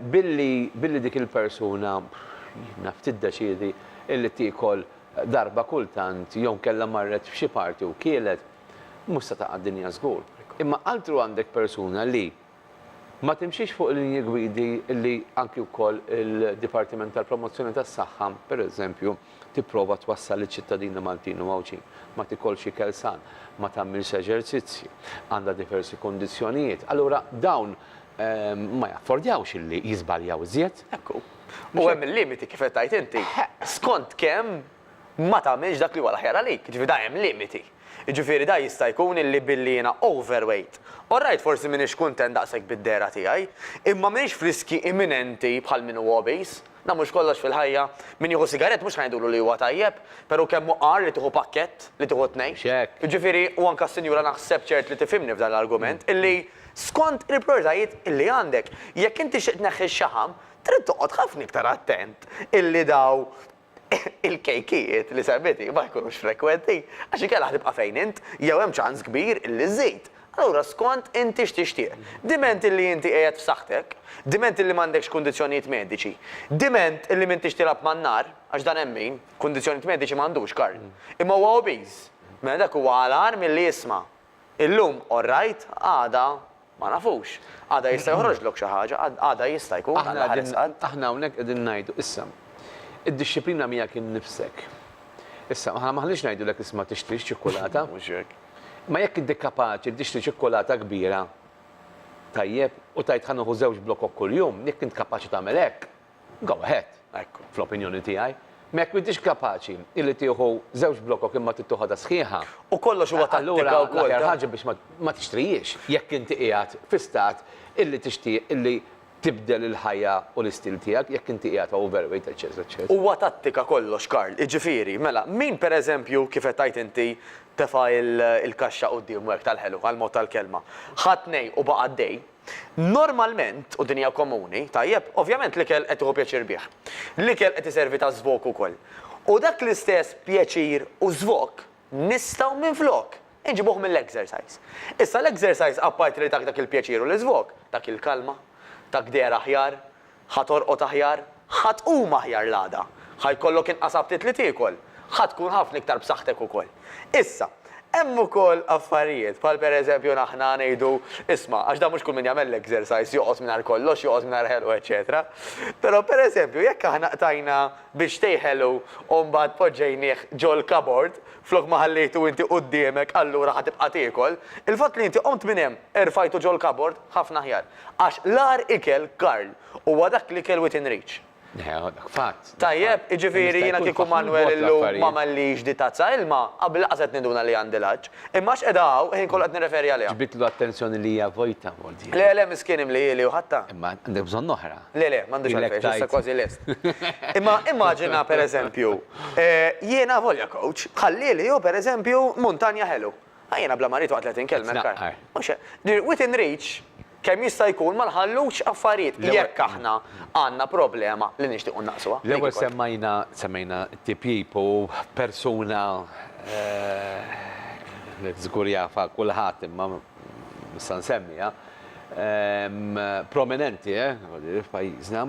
Billi billi dik il-persuna, naf, tiddeċiedi illi tiekol darba kultant jew inkella marret f'xi party u kielet, mhux se taqa' d-dinja żgur. Imma altru għandek persuna li ma timxix fuq il-linji gwidi illi anki wkoll il-Dipartiment tal-Promozzjoni tas-Saħħa, pereżempju, tipprova twassal liċ-ċittadini Maltin u Għawdxin. Ma tiekolx ikel san, ma tagħmilx eżerċizzji, għandha diversi kundizzjonijiet. Allura dawn ma jaffordjawx illi jiżbaljaw iżjed. Hekk hu. U hemm il-limiti kif qed tgħid inti. Skont kemm ma tagħmilx dak li huwa l-aħjar għalik. Jiġifieri da hemm limiti. Jiġifieri da jista' jkun illi billi jiena overweight, alright forsi m'iniex kuntent daqshekk bid-dehra tiegħi, imma m'iniex f'riskji imminenti bħal min hu obese. Dan mhux kollox fil-ħajja. Min jieħu sigarett mhux ħa ngħidulu li huwa tajjeb, però kemm hu agħar li tieħu pakkett, li tieħu tnejn. X'hekk? Jiġifieri, u anke s-sinjura naħseb ċert li tifhimni f'dan l-argument, illi skont il-prijoritajiet illi għandek. Jekk int tixtieq tneħħi x-xaħam, trid toqgħod ħafna iktar attent illi daw il-kejkijiet li semmiti ma jkunux frekwenti, għax inkella ħa tibqa' fejn int, jew hemm ċans kbir illi żżid. Allura skont inti x'tixtieq. Diment illi inti qiegħed f'saħħtek, diment illi m'għandekx kundizzjonijiet mediċi, diment illi m'intix tilgħab man-nar, għax dan hemm min, kundizzjonijiet mediċi m'għandux Karl, imma huwa obese, mela dak huwa agħar milli jisma', illum all right, għada ma nafux. Għada jista' joħroġlok xi ħaġa, għada jista' jkun, Alla ħares qalb. Aħna hawnhekk qegħdin ngħidu, issa, id-dixxiplina miegħek innifsek. Issa, aħna m'aħniex ngħidulek isma' tixtrix ċikkulata. Mhux hekk. Imma jekk inti kapaċi li tixtri ċikkulata kbira, tajjeb, u tgħid ħa nieħu żewġ blokok kuljum, jekk int kapaċi tagħmel hekk, go ahead, fl-opinjoni tiegħi. Imma jekk m'intix kapaċi li tieħu żewġ blokok imma trid toħodha sħiħa, allura l-aħjar ħaġa biex ma tixtrihiex, jekk inti qiegħed fi stat illi tixtieq illi tibdel il-ħajja u l-istil tiegħek jekk inti qiegħed overweight eċċess eċċess. Huwa tattika kollox Karl, jiġifieri, mela, min per eżempju kif qed tgħid inti tefa' il-kaxxa quddiemu hekk tal-ħelu, għall-mod tal-kelma, ħa tnej u baqa' għaddej, normalment, u din hija komuni, tajjeb, ovvjament l-ikel qed tieħu pjaċir bih. L-ikel qed iservi ta' żvok ukoll. U dak l-istess pjaċir u żvok, nistgħu minflok inġibuh mill-exercise. Issa l-exercise apparti li tak dak il-pjaċir u l-iżvog, tak il-kalma, tak deher aħjar, ħa torqod aħjar, ħa tqum aħjar l-għada, ħa jkollok inqas aptit li tiekol, ħa tkun ħafna iktar b'saħħtek ukoll. Issa, hemm ukoll affarijiet bħal per eżempju aħna ngħidu, isma' għax dan mhux kull min jagħmel l-exercise joqgħod mingħajr kollox, joqgħod mingħajr ħelq u eċċetera. Però per eżempju jekk aħna qtajna biex tejħelu u mbagħad poġġejnieh ġol-kabord flok ma ħallejtu inti quddiemek allura ħa tibqa' tiekol. Il-fatt li inti qomt minn hemm, erfajtu ġol-kabord, ħafna aħjar. Għax l-agħar ikel, Karl, huwa dak l-ikel within reach. Dak fatt. Tajjeb, jiġifieri jiena kieku Manwel illum m'għamellix di tazza ilma, qabel lanqas qed ninduna li għandi l-għatx. Imma għax qiegħda hawn, il-ħin kollu qed nirreferi għaliha. Ġbidtlu attenzjoni li hija vojta, Mordie. Le, le, miskien imlieli u ħadtha. Imma għandek bżonn oħra. Le, le, m'għandux Ilek għalfejn, tajt. issa kważi lest. Imma immaġina, per eżempju, eh, jiena avolja coach, ħallieli hu, per eżempju, muntanja ħelu. Ah, jiena bla ma rrid waqt li qed inkellmek. Qed tnaqqar. Mhux hekk. Dir, Within reach, kemm jista' jkun ma nħallux affarijiet L-ewwel- jekk aħna għandna problema li nixtiequ nnaqsuha. Dik L-ewwel il-punt. semmajna, semmejna t-tipjip u persuna, eh, li żgur jafha kulħadd imma nista' nsemmi, prominenti f'pajjiżna,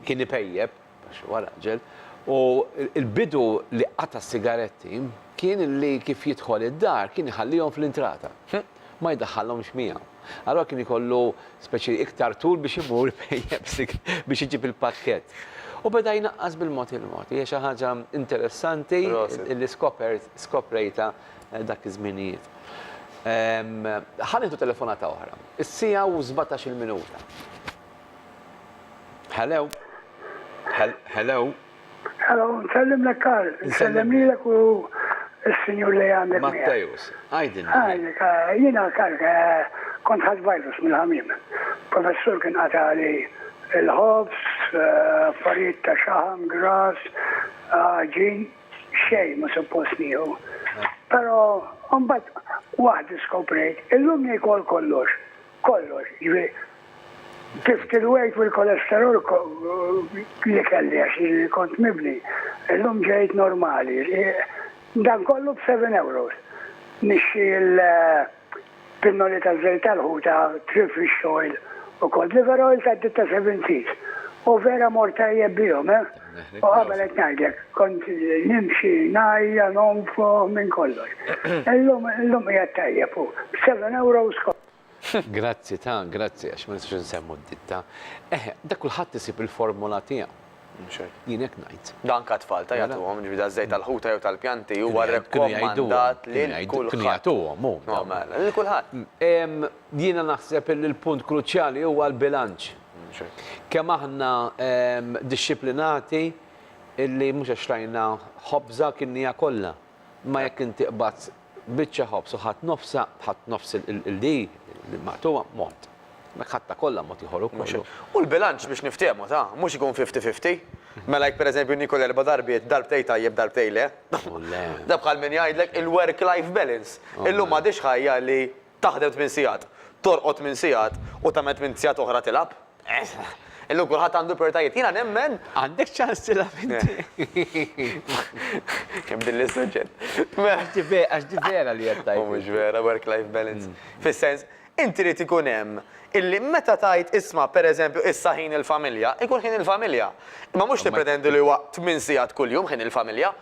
kien ipejjep, għax huwa raġel, u l-bidu li qata' s-sigaretti kien li kif jidħol id-dar kien iħallihom fl-intrata. Ma jdaħħalhomx miegħu. Allura kien ikollu speċi iktar tul biex imur ipejjep biex iġib il-pakkett. U beda jnaqqas bil-mod il-mod. Hija xi ħaġa interessanti li skopert, skoprejtha dak iż-żminijiet. Ħa nieħdu telefonata oħra. Is-siegħa u żbatax il-minuta. Hello? Hello? Hello, nsellimlek Karl, nsellimlek u s-sinjur li għandek. Matteus, għajdin. Għajdin, eh, jina Karl, eh, kont ħad virus mill-ħamim. Professur kien għatali il-ħobs, eh, affarijiet ta' xaħam, gras, ġin. xejn mhu suppost nieħu. Però mbagħad waħd iskoprejt, illum niekol kollox, kollox, jiġifieri tlift il-weight u l-kolesterol li kelli għax kont mibni, illum ġejt normali. Dan kollu b' seven euros. Nixtri l-. Pinnoli ta' żejt tal-ħuta, trip fish oil u cod liver oil tad-ditta Seven Seas. U vera mort tajjeb bihom, eh! U qabel qed ngħidlek, kont nimxi ngħajja, nonfoħ, minn kollox. Illum, illum qiegħed tajjeb u b'seven euros kont. Grazzi ta', grazzi, għax ma nistgħux insemmu d-ditta. Eħe, dak kulħadd isib il-formola tiegħu. Jien hekk ngħid. Dan anke għat-tfal ta' jagħtuhom, ġifieri daż-żejt tal-ħuta jew tal-pjanti huwa rrakkomandat lil kulħadd. Kienu jagħtuhom hu. No mela, lil kulħadd. Jiena naħseb li l-punt kruċjali huwa l-bilanċ. Kemm aħna dixxiplinati li mhux għax tajna ħobża kilniha kollha. Imma jekk inti qbadt biċċa ħobż u ħadt nofsha, ħadt nofs il-di, il-maqtugħa, mod. Jekk ħadtha kollha mod ieħor ukoll. U l-bilanċ biex niftehmu, ta', mhux ikun fifty fifty. Mela jekk pereżempju niekol erba' darbiet, darbtejn tajjeb darbtejn le. Da bħal min jgħidlek il-work life balance. Illum m'għadhiex ħajja li. Taħdem tmien sigħat, torqod tmien sigħat u tagħmel tmint sigħat oħra tilgħab? Illum kulħadd għandu prijoritajiet. Jiena nemmen. Għandek ċans tilgħab inti. Kemm billi s-suġġett. Għax di vera li qed tgħid. Mhux vera, work-life balance. Fis-sens, inti irid ikun hemm illi meta tgħid isma' pereżempju issa ħin il-familja, ikun ħin il-familja. Imma mhux tippretendi li huwa tmien sigħat kuljum ħin il-familja.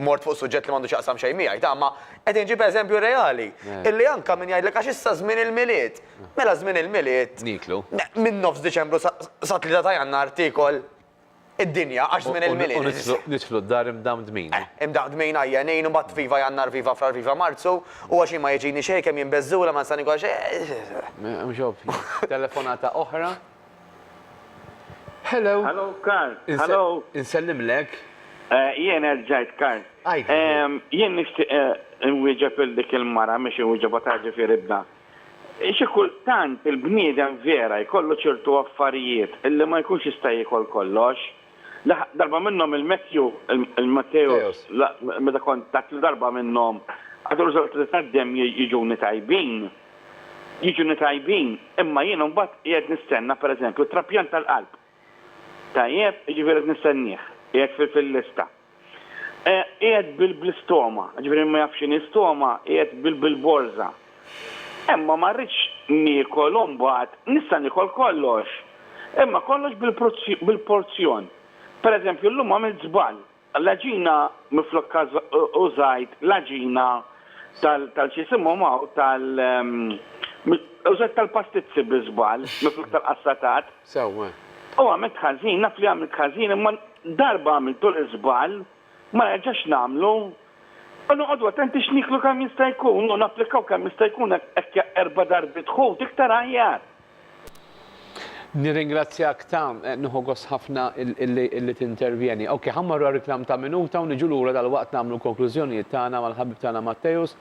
mort fuq suġġett li m'għandu x'jaqsam xejn miegħi, ta' imma qed inġib eżempju reali, illi anke min jgħidlek għax issa żmien il-Milied, mela żmien il-Milied, minn nofs Diċembru sa tlieta ta' Jannar tiekol id-dinja għax żmien il-Milied. U nidħlu d-dar imdamdmin. Eh, imdamdmin, għajjenin, u mbagħad viva Jannar, viva Frar, viva Marzu, u għax jien ma jiġini xejn kemm jien beżżula ma nista' nikol xejn. Mhux ovvju. Telefonata oħra. Hello. Hello, Karl. Hello. Insellimlek. Eh, jien erġajt, Karl. Għajt. Ehm, jien nixtieq eh, nwieġeb il dik il-mara miex inwieġebha ta' ġifieri ibna. Xi kultant il-bniedem vera jkollu ċertu affarijiet illi ma jkunx jista' jiekol kollox. Darba minnhom il-Matthew, il-Matteus, meta kont tatlu darba minnhom, għadu riżultati tad-demm jiġuni tajbin. jiġuni tajbin imma jien imbagħad qiegħed nistenna pereżempju trapjant tal-qalb. Tajjeb? Jiġifieri qed nistennieh, qiegħed fil-lista. Qiegħed bl-istoma, jiġifieri min ma jafx x'inhi stoma, qiegħed bil-borża. Imma ma rridx niekol u mbagħad nista' niekol kollox, imma kollox bil-porzjon. Pereżempju llum għamilt żball, L-għaġina minflok użajt l-għaġina tal-x'jisimhomhaw tal użajt tal-pastizzi bi żball minflok tal-qassatat. Sewwa. U għamilt ħażin, naf li għamilt ħażin imma darba għamiltu l-iżball ma nerġax nagħmlu u noqogħdu attenti x'nieklu kemm jista' jkun u napplikaw kemm jista' jkun hekk erba' darbiet ħut iktar aħjar. Nirringrazzjak ta, nieħu gost ħafna illi tintervjeni. Ok, ħa mmorru għar-riklam ta' minuta u niġu lura dalwaqt nagħmlu l-konklużjonijiet tagħna mal-ħabib tagħna Matteus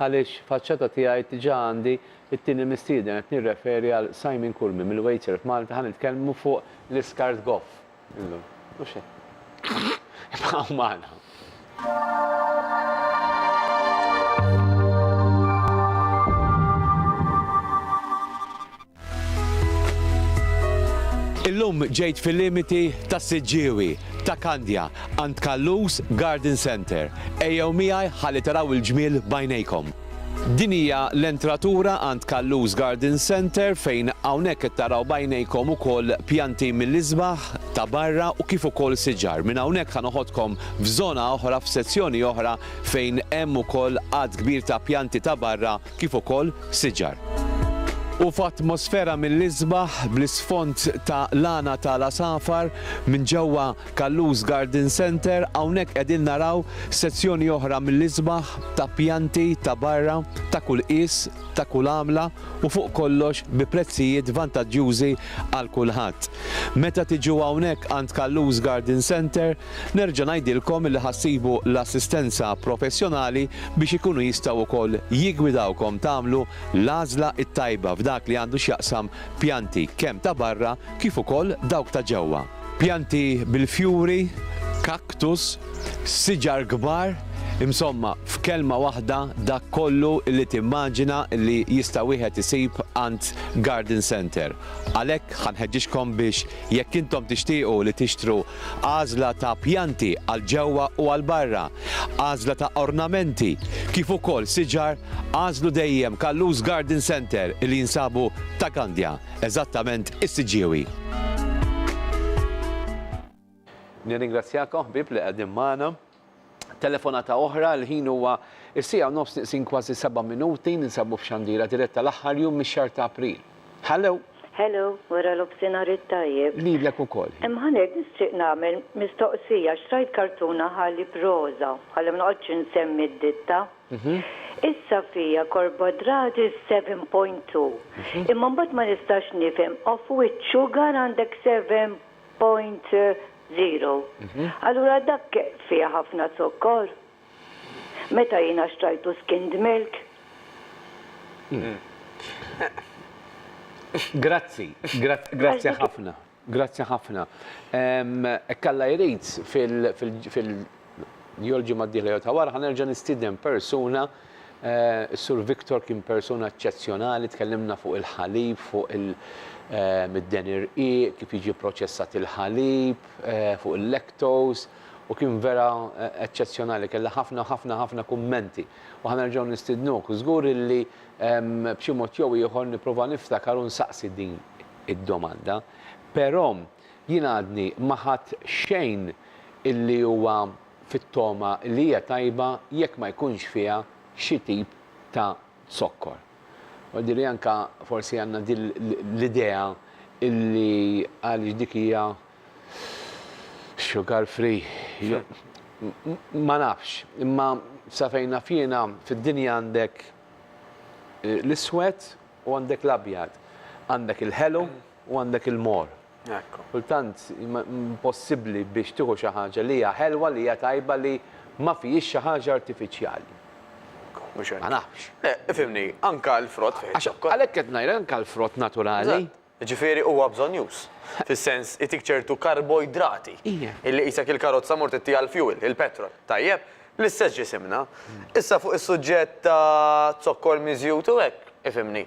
għaliex faċċata tiegħi diġà għandi t-tieni mistieden qed nirreferi għal Simon Curmi mill-Waitsurf Malta ħa nitkellmu fuq l-iskart goff. Illum, mhux hekk. Ibqgħu magħna. Illum ġejt fil-limiti ta' Siġġiewi, ta' Kandja, għand Kallus Garden Center. Ejjew miegħi ħalli taraw il-ġmiel bajnejkom. Din hija l-entratura għand Callus Garden Centre fejn hawnhekk qed taraw b'għajnejkom ukoll pjanti mill-isbaħ ta' barra u kif ukoll siġar. Minn hawnhekk ħa noħodkom f'żona oħra, f'sezzjoni oħra fejn hemm ukoll għadd kbir ta' pjanti ta' barra kif ukoll siġar. U f'atmosfera mill-isbaħ bl-isfond ta' lana ta' l-għasafar minn ġewwa. Callus Garden Centre, hawnhekk qegħdin naraw sezzjoni oħra mill-isbaħ ta' pjanti ta' barra ta' kull qies, ta' kull għamla u fuq kollox bi prezzijiet vantaġġjużi għal kulħadd. Meta tiġu hawnhekk għand Callus Garden Centre, nerġa' ngħidilkom li ħa ssibu l-assistenza professjonali biex ikunu jistgħu wkoll jiggwidawkom tagħmlu l-għażla t-tajba f'dak li għandu x'jaqsam pjanti kemm ta' barra kif ukoll dawk ta' ġewwa. Pjanti bil-fjuri, cactus, siġar kbar, insomma, f'kelma waħda dak kollu li timmaġina li jista' wieħed isib għand garden centre. Għalhekk ħa nħeġġiġkom biex jekk intom tixtiequ li tixtru għażla ta' pjanti għal ġewwa u għal barra, għażla ta' ornamenti, kif ukoll siġar, għażlu dejjem Callus Garden Centre li jinsabu ta' Gandja. Eżattament is-siġġiewi. Nirringrazzjakom ħbieb li qegħdin magħna. Telefonata oħra, l-ħin huwa is-sija u nofs niqsin kważi seba' minuti ninsabu f'xandira diretta l-aħħar jum mix-xahar ta' April. Hello. Hello, wara l-ofsinhar it-tajjeb. Lilek ukoll. Imma ngħid nixtieq nagħmel mistoqsija għax rajt kartuna ħalib roża, ħalli ma noqgħodx insemmi d-ditta. Issa fija Korbodradis 7.2 imma mbagħad ma nistax nifhem off which sugar għandek 7.0. Allura dak fih ħafna zokkor? Meta jiena xtrajtu skimmed milk? Grazzi, grazzi ħafna. Grazzi ħafna. Hekk Alla jrid fil jew l-ġimgħa d-dieħla jew ta' wara ħa nerġa' nistieden persuna, is-Sur Victor kien persuna eċċezzjonali, tkellimna fuq il-ħalib, fuq id-deni irqiq, kif jiġi pproċessat il-ħalib, fuq il-lactose u kien vera eċċezzjonali, kellha ħafna ħafna ħafna kummenti. U ħa nerġgħu nistidnuk. Żgur illi b'xi mod jew ieħor nipprova niftakar u nsaqsi din. id-domanda, però jien għadni ma ħadt xejn illi huwa fit-togħma li hija tajba jekk ma jkunx fiha xi tip ta' zokkor. Jidhirli anke forsi għandna din l-idea illi għaliex dik hija sugar free jew ma nafx. Imma sa fejn naf jiena fid-dinja għandek l-iswed u għandek l-abjad. Għandek il-ħelu u għandek il-mor. Kultant impossibbli biex tieħu xi ħaġa li hija ħelwa, li hija tajba li ma fihiex xi ħaġa artifiċjali. Ma nafx. Le, ifhimni, anke l-frott fih iż-zokkor. Għalhekk qed ngħidlek anke l-frott naturali. Jiġifieri huwa bżonnjuż. Fis-sens, itik ċertu karboidrati. Illi qisek il-karozza mort ittiha l-fjuwil, il-petrol. Tajjeb? L-istess ġisimna. Issa fuq is-suġġett ta' zokkor miżjud u hekk, ifhimni.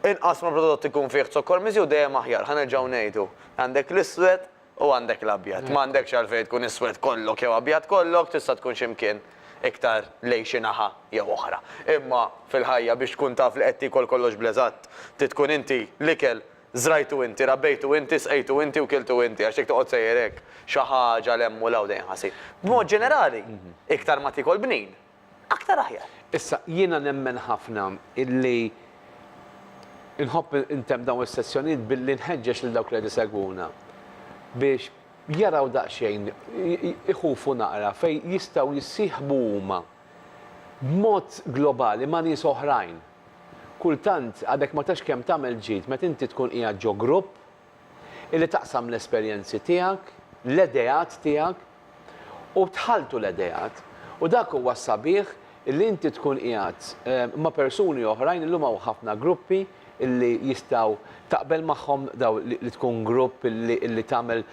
Inqas ma' prodott ikun fih zokkor miżjud dejjem aħjar, ħa nerġgħu ngħidu. Għandek l-iswed, U għandek l-abjad. M'għandekx għalfejn tkun iswed kollok jew abjad kollok, tista' tkun xi mkien iktar lejn xi naħa jew oħra. Imma fil-ħajja biex tkun taf li qed tiekol kollox bl-eżatt, trid tkun inti l-ikel żrajtu inti, rabbejtu inti, sqejtu inti u kiltu inti għax jekk toqgħod sejjer hekk xi ħaġa 'l hemm u 'l hawn dejjem ħa ssir. B'mod ġenerali, iktar ma tiekol bnin, aktar aħjar. Issa, jiena nemmen ħafna illi nħobb intemm dawn is-sezzjonijiet billi nħeġġeġ lil dawk li qed isegwuna biex jaraw daqsxejn, iħufu naqra fejn jistgħu jissieħbu huma b'mod globali ma' nies oħrajn. Kultant, għadek ma tafx kemm tagħmel ġid meta inti tkun qiegħed ġo grupp illi taqsam l-esperjenzi tiegħek, l-ideat tiegħek u tħalltu l-ideat. U dak huwa s-sabiħ illi inti tkun qiegħed ma' persuni oħrajn, illum hawn ħafna gruppi illi jistgħu taqbel magħhom dawn li tkun grupp illi tagħmel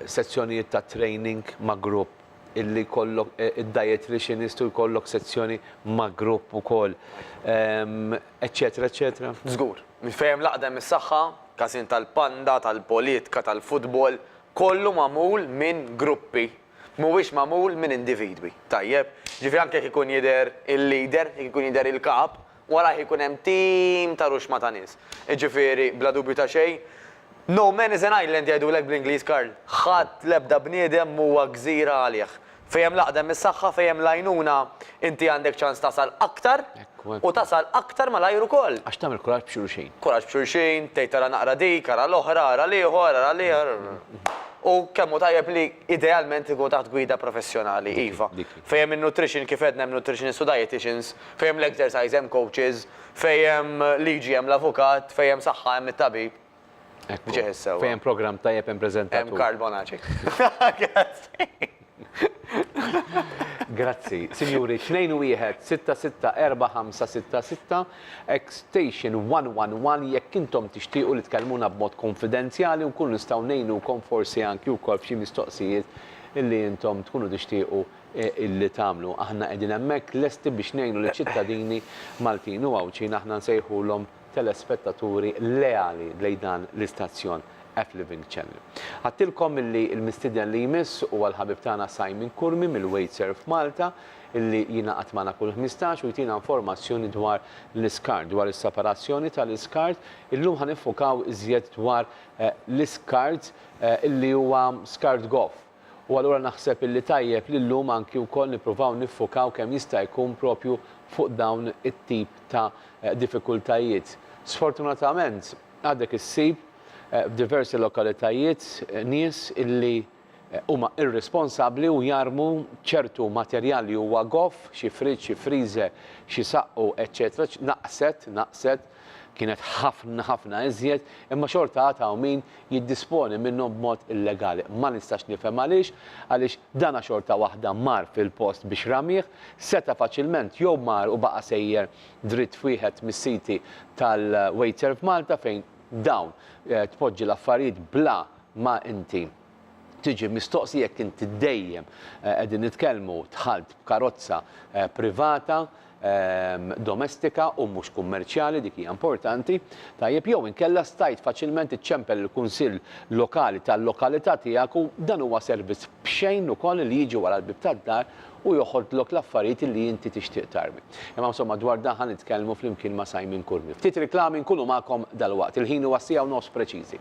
sezzjonijiet ta' training ma' grupp, illi jkollok id-dieticianist u jkollok sezzjoni ma' grupp ukoll, eċċetera eċċetera. Żgur. Mill-fejjem l-għaqda imsaħħa, każin tal-panda, tal-politka, tal-futbol, kollu magħmul minn gruppi, mhuwiex magħmul minn individwi. Tajjeb? Jiġifieri anke jekk ikun jidher il-leader, jekk ikun jidher il-kap, warajh ikun hemm tim ta' ruxma ta' nies. Jiġifieri, bla dubju ta' xejn, No man is an island jgħidulek bl-Ingliż Karl. Ħadd, l-ebda bniedem m'huwa gżira għalih. Fejn hemm l-għaqda hemm is-saħħa, fejn hemm l-għajnuna inti għandek ċans tasal aktar u tasal aktar malajr ukoll. Għax tagħmel kuraġġ b'xulxin. Kuraġġ b'xulxin, tgħid ara naqra dik, ara l-oħra, ara l-ieħor, ara l-ieħor. U kemm hu tajjeb li idealment ikun taħt gwida professjonali, iva. Fejn hemm in-nutrition kif għedna hemm nutritionists u dieticians, fejn hemm l-exercise hemm coaches, fejn hemm liġi hemm l-avukat, fejn hemm saħħa hemm it-tabib. Ekku. Ġejn sewa. Fejn programm tajjeb hemm preżentatur. Hemm Karl Bonaci. Grazzi. Sinjuri, 2-1-6-6-4-5-6-6, extension 111 jekk intom tixtiequ li tkellmuna b'mod kunfidenzjali u nkunu nistgħu ngħinukom forsi anki wkoll f'xi mistoqsijiet illi intom tkunu tixtiequ illi tagħmlu. Aħna qegħdin hemmhekk lesti biex ngħinu liċ-ċittadini Maltin u Għawdxin aħna nsejħulhom telespettaturi leali lejn dan l-istazzjon F Living Channel. Għedtilkom illi l-mistieden li jmiss huwa l-ħabib tagħna Simon Curmi mill-Waitserv Malta illi jingħaqad magħna kull ħmistax u jtina informazzjoni dwar l-iskart, dwar is-separazzjoni tal-iskart. Illum ħa niffukaw iżjed dwar l-iskart illi huwa skart goff. U allura naħseb illi tajjeb li llum anki wkoll nippruvaw niffukaw kemm jista' jkun propju fuq dawn it-tip ta' diffikultajiet. Sfortunatament għadek issib f'diversi lokalitajiet nies illi huma irrisponsabbli u jarmu ċertu materjal li huwa goff, xi fridge, xi freezer, xi saqqu eċċetera, naqset, naqset, kienet ħafna ħafna iżjed, imma xorta għad hawn min jiddisponi minnhom b'mod illegali. Ma nistax nifhem għaliex, għaliex dana xorta waħda mar fil-post biex ramih, seta' faċilment jew mar u baqa' sejjer dritt f'wieħed mis-siti tal-Waitserv Malta fejn dawn tpoġġi l-affarijiet bla ma inti tiġi mistoqsi jekk inti dejjem eh, qegħdin nitkellmu dħalt b'karozza eh, privata ehm, domestika u mhux kummerċjali dik hija importanti, tajjeb jew inkella stajt faċilment iċċempel il-kunsill lokali tal-lokalità tiegħek u dan huwa servizz b'xejn ukoll li jiġi wara l-bib tad-dar u joħodlok l-affarijiet li inti tixtieq tarmi. Imma insomma dwar dan ħan nitkellmu flimkien ma' Simon Kurmi. Ftit reklami nkunu magħkom dal-waqt. Il-ħin huwa sija u nofs preċiżi.